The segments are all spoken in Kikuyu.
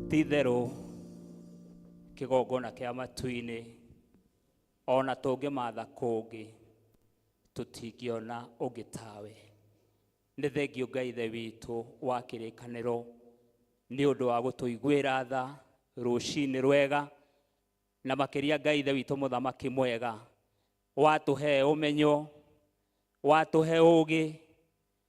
ti itherũ kĩgongona kĩa matu-inĩ ona tũngĩmatha kũngĩ tũtingĩona ũngĩ tawe nĩ thengio ngai ithe witũ wa kĩrĩkanĩro nĩ ũndũ wa gũtũiguĩra tha rũcinĩ rwega na makĩria ngai ithe witũ mũthamaki mwega watũhe ũmenyo watũhe ũgĩ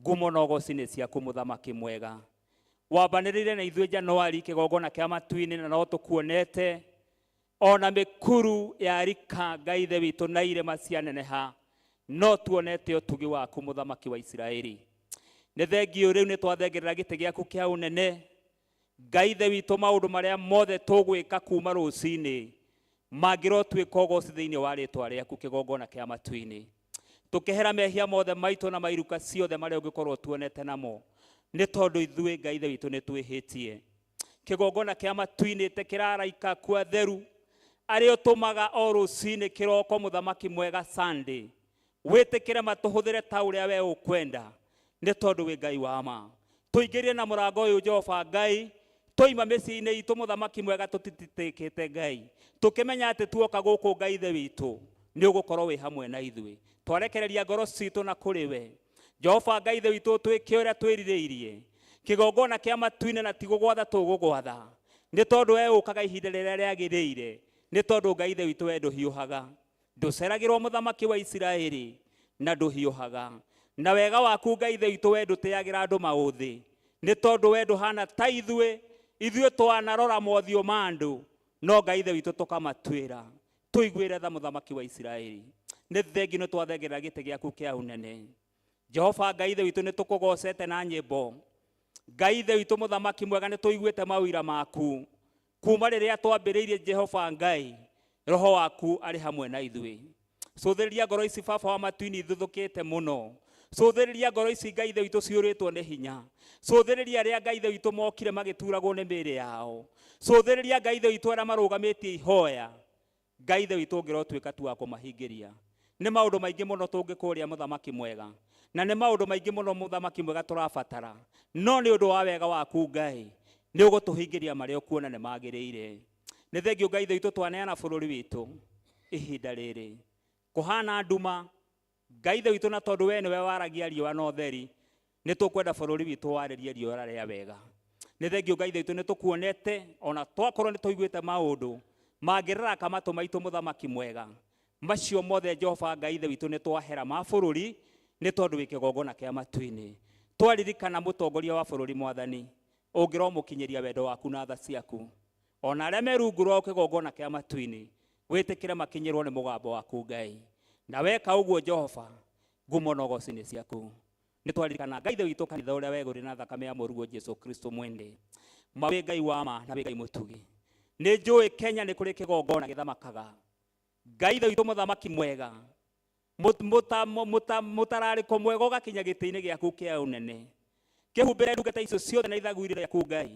Ngumo na ũgooci nĩ ciaku, Mũthamaki mwega. Wambanĩrĩire na ithuĩ Januari kĩgongona kĩa matu-inĩ na no tũkuonete o na mĩkuru ya rika Ngai Ithe witũ na irĩma cianeneha no tuonete ũtugi waku Mũthamaki wa Isiraeli. Nĩ thengiũ rĩu nĩ twathengerera gĩtĩ gĩaku kĩa ũnene Ngai Ithe witũ, maũndũ marĩa mothe tũgwĩka kuuma rũcinĩ mangĩrotuĩka ũgooci thĩinĩ wa rĩĩtwa rĩaku kĩgongona kĩa matu-inĩ, tũkehera mehia mothe maitũ na mairuka ciothe marĩa ũngĩkorwo tuonete namo, nĩ tondũ ithuĩ Ngai Ithe witũ nĩ twĩhĩtie. Kĩgongona kĩa matu-inĩ ĩte kĩra araika aku atheru arĩa ũtũmaga o rũcinĩ kĩroko mũthamaki mwega Sunday Wĩtĩkĩre matũhũthĩre ta ũrĩa we ũkwenda, nĩ tondũ wĩ Ngai wa ma. Tũingĩrire na mũrango ũyũ, Jehova Ngai, twoima mĩciĩ-inĩ itũ, Mũthamaki mwega, tũtitĩtĩkĩte Ngai, tũkĩmenya atĩ tuoka gũkũ, Ngai Ithe witũ, nĩ ũgũkorwo wĩ hamwe na ithuĩ. Twarekereria ngoro citũ na kũrĩ we, Jehova Ngai Ithe witũ, ũtwĩke ũrĩa twĩrirĩirie, kĩgongona kĩa matu-inĩ, na ti gũgwatha tũgũgwatha, nĩ tondũ we ũkaga ihinda rĩrĩa rĩagĩrĩire, nĩ tondũ Ngai Ithe witũ we ndũhiũhaga. ndũceragĩrwo mũthamaki wa isiraeli na ndũhiũhaga na wega waku ngai ithe witũ we ndũteagĩra andũ maũthĩ nĩ tondũ we ndũhana ta ithuĩ ithuĩ twanarora mothiũ ma andũ no ngai ithe witũ tũkamatuĩra tũiguĩre tha mũthamaki wa isiraeli nĩ thengi nĩ twathengerera gĩtĩ gĩaku kĩa ũnene jehova ngai ithe witũ nĩ tũkũgocete na nyĩmbo ngai ithe witũ mũthamaki mwega nĩ tũiguĩte maũira maku kuma rĩrĩa twambĩrĩirie jehova ngai roho waku arĩ hamwe na ithuĩ cũthĩrĩria ngoro ici baba wa matuini ithuthũkĩte mũno cũthĩrĩria ngoro ici ngai ithe witũ ciũrĩtwo nĩ hinya cũthĩrĩria arĩa ngai ithe witũ mokire magĩturagwo nĩ mĩĩrĩ yao cũthĩrĩria ngai ithe witũ arĩa marũgamĩtie ihoya Ngai Ithe witũ ũngĩrotuĩka tu wa kũmahingĩria. Nĩ maũndũ maingĩ mũno tũngĩkũũria Mũthamaki Mwega, na nĩ maũndũ maingĩ mũno Mũthamaki Mwega tũrabatara, no nĩ ũndũ wa wega waku Ngai, nĩ ũgũtũhingĩria marĩa ũkuona nĩ magĩrĩire. Nĩ thengiũ Ngai Ithe witũ twaneana bũrũri witũ ihinda rĩrĩ. Kũhana nduma, Ngai Ithe witũ, na tondũ wee nĩwe waragia riũa na ũtheri, nĩ tũkwenda bũrũri witũ warĩrie riũa rĩa wega. Nĩ thengiũ Ngai Ithe witũ, nĩ tũkuonete ona twakorwo nĩ tũiguĩte maũndũ mangĩraraka matũ maitũ mũthamaki mwega. Macio mothe Jehova Ngai Ithe witũ nĩ twahera ma bũrũri nĩ tondũ wĩ kĩgongona kĩa matu-inĩ. Twaririkana mũtongoria wa bũrũri mwathani, ũngĩromũkinyĩria wendo waku na tha ciaku. o na arĩa me rungu rwa kĩgongona kĩa matu-inĩ gwĩtĩkĩre makinyĩrwo nĩ mũgambo waku ngai na weka ũguo jehova ngumo na ũgoci nĩ ciaku nĩ twaririkana ngai thĩ witũ kanitha ũrĩa wegũrĩ na thakame ya mũruo jesu kristo mwende ma wĩ ngai wa ma na wĩ ngai mũtugi nĩ njũĩ kenya nĩ kũrĩ kĩgongona gĩthamakaga ngai thĩ witũ mũthamaki mwega Mũt- mũta- mũ- mũta- mũtararĩko mwega ũgakinya gĩtĩ-inĩ gĩaku kĩa ũnene kĩhumbĩre ndungata icio ciothe na ithaguri rĩaku ngai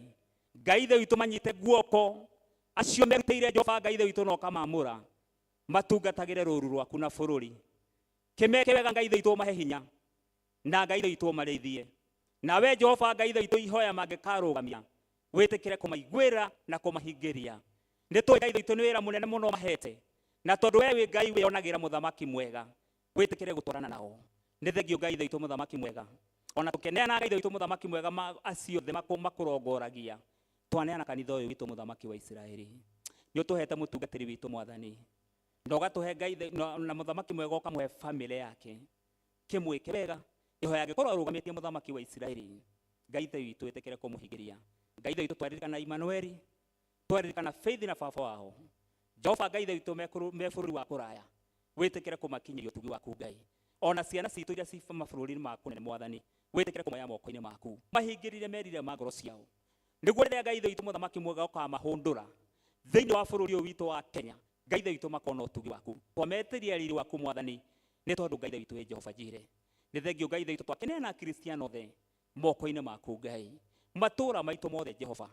ngai ithe witũ manyite guoko acio merutĩire jehova ngai ithe witũ na ũkamamũra matungatagĩre rũru rwaku na bũrũri kĩmeke wega ngai ithe witũ ũmahe hinya na ngai itũ ũmarĩithie na we jehova ngai itũ ihoya mangĩkarũgamia wĩtĩkĩre kũmaiguĩra na kũmahingĩria nĩ tũĩ ngai itũ nĩ wĩra mũnene mũno mahete na tondũ we wĩ ngai wĩonagĩra mũthamaki mwega wĩtĩkĩre gũtwarana nao nĩ thengio ngai itũ mũthamaki mwega ona tũkeneana ngai itũ mũthamaki mwega ma acio thĩ makũrongoragia twaneana kanitha ũyũ witũ mũthamaki wa isiraeli nĩ ũtũhete mũtungatĩri witũ mwathani na ũgatũhe ngai na mũthamaki mwega ũkamũhe famĩlĩ yake kĩmwĩke wega ihoya angĩkorwo arũgamĩtie mũthamaki wa isiraeli ngai ithe witũ ĩtĩkĩre kũmũhingĩria ngai ithe witũ twaririkana imanueli twaririkana faith na baba wao jehova ngai ithe witũ me kũrũ- me bũrũri wa kũraya wĩtĩkĩre kũmakinyĩria ũtugi waku ngai ona ciana citũ iria ci mabũrũri-inĩ maku nene mwathani wĩtĩkĩre kũmoya moko-inĩ maku mahingĩrire merire ma ngoro ciao nĩguo rĩrĩa ngai ithe witũ mũthamaki mwega ũkamahũndũra thĩinĩ wa bũrũri ũyũ witũ wa kenya ngai ithe witũ makona ũtugi waku twametĩria riri waku mwathani Nĩ tondũ Ngai Ithe witũ wĩ Jehova Njire. Nĩ thengiũ Ngai Ithe witũ twakĩneana Akristiano othe moko-inĩ maku Ngai. Matũũra maitũ mothe Jehova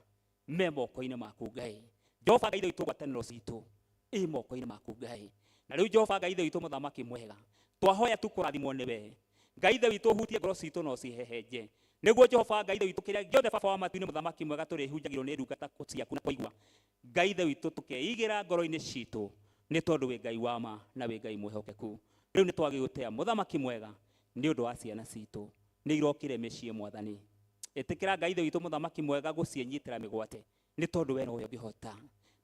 me moko-inĩ maku Ngai. Jehova Ngai Ithe witũ ngwatanĩro citũ ĩ moko-inĩ maku Ngai. Na rĩu Jehova Ngai Ithe witũ mũthamaki mwega twahoya tu kũrathimwo nĩwe. Ngai Ithe witũ ũhutie ngoro citũ na ũcihehenje. Nĩguo Jehova Ngai Ithe witũ kĩrĩa gĩothe Baba wa matu-inĩ mũthamaki mwega tũrĩhunjagĩrwo nĩ ndungata ciaku na kũigua Ngai Ithe witũ tũkeigĩra ngoro-inĩ citũ nĩ tondũ wĩ Ngai wa ma na wĩ Ngai mwĩhokeku. Rĩu nĩ twagĩ gũtĩa mũthamaki mwega nĩ ũndũ wa ciana citũ nĩ irokire mĩciĩ mwathani. Ĩtĩkĩra Ngai Ithe witũ mũthamaki mwega gũciĩnyitĩra mĩgwate nĩ tondũ we nowe ũngĩhota.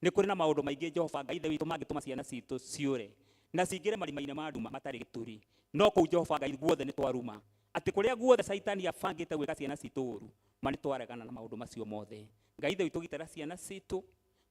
Nĩ kũrĩ na maũndũ maingĩ Jehova Ngai Ithe witũ mangĩtũma ciana citũ ciũre na cingĩre marima-inĩ ma nduma matarĩ gĩturi. No kũu Jehova Ngai guothe nĩ twaruma atĩ kũrĩa guothe caitani abangĩte gwĩka ciana citũ ũru ma nĩ twaregana na maũndũ macio mothe. Ngai ithe witũ gitĩra ciana citũ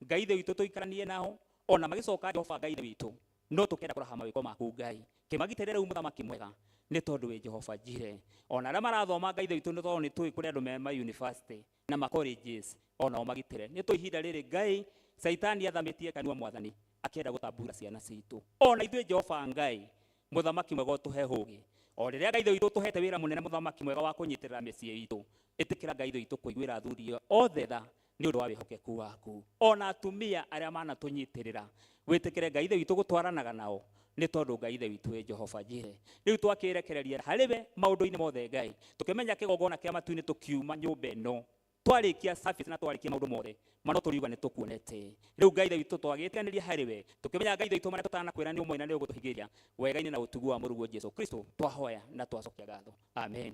Ngai ithe witũ tũikaranie nao ona magĩcoka Jehova Ngai ithe witũ no tũkenda kũraha mawĩko maku Ngai kĩmagitĩre rĩu mũthamaki mwega nĩ tondũ wĩ Jehova njire ona arĩa marathoma Ngai ithe witũ nĩ tondũ nĩ tũĩ kũrĩ andũ me ma university na ma colleges onao magitĩre nĩ tũĩ ihinda rĩrĩ Ngai caitani athamĩtie kanua mwathani akĩenda gũtambura ciana citũ ona ithuĩ Jehova Ngai mũthamaki mwega ũtũhe hũgĩ o rĩrĩa Ngai ithe witũ ũtũhete wĩra mũnene mũthamaki mwega wa kũnyitĩrĩra mĩciĩ itũ Ĩtĩkĩra Ngai ithuĩ tũkũiguĩra athuri othe tha nĩ ũndũ wa wĩhokeku waku. O na atumia arĩa manatũnyitĩrĩra, wĩtĩkĩre Ngai Ithe witũ gũtwaranaga nao, nĩ tondũ Ngai Ithe witũ e Jehova Jireh. Rĩu twakĩĩrekereria harĩ we maũndũ-inĩ mothe, Ngai, tũkĩmenya kĩgongona kĩa matu-inĩ tũkiuma nyũmba ĩno, twarĩkia service na twarĩkia maũndũ mothe ma no tũriuga nĩ tũkuonete. Rĩu Ngai Ithe witũ twagĩĩtiganĩria harĩ we, tũkĩmenya Ngai Ithe witũ marĩa tũtanakwĩra nĩ ũmũĩ na nĩ ũgũtũhingĩria wega-inĩ na ũtugi wa Mũrũguo Jesu Kristo, twahoya na twacokia ngatho. Amen.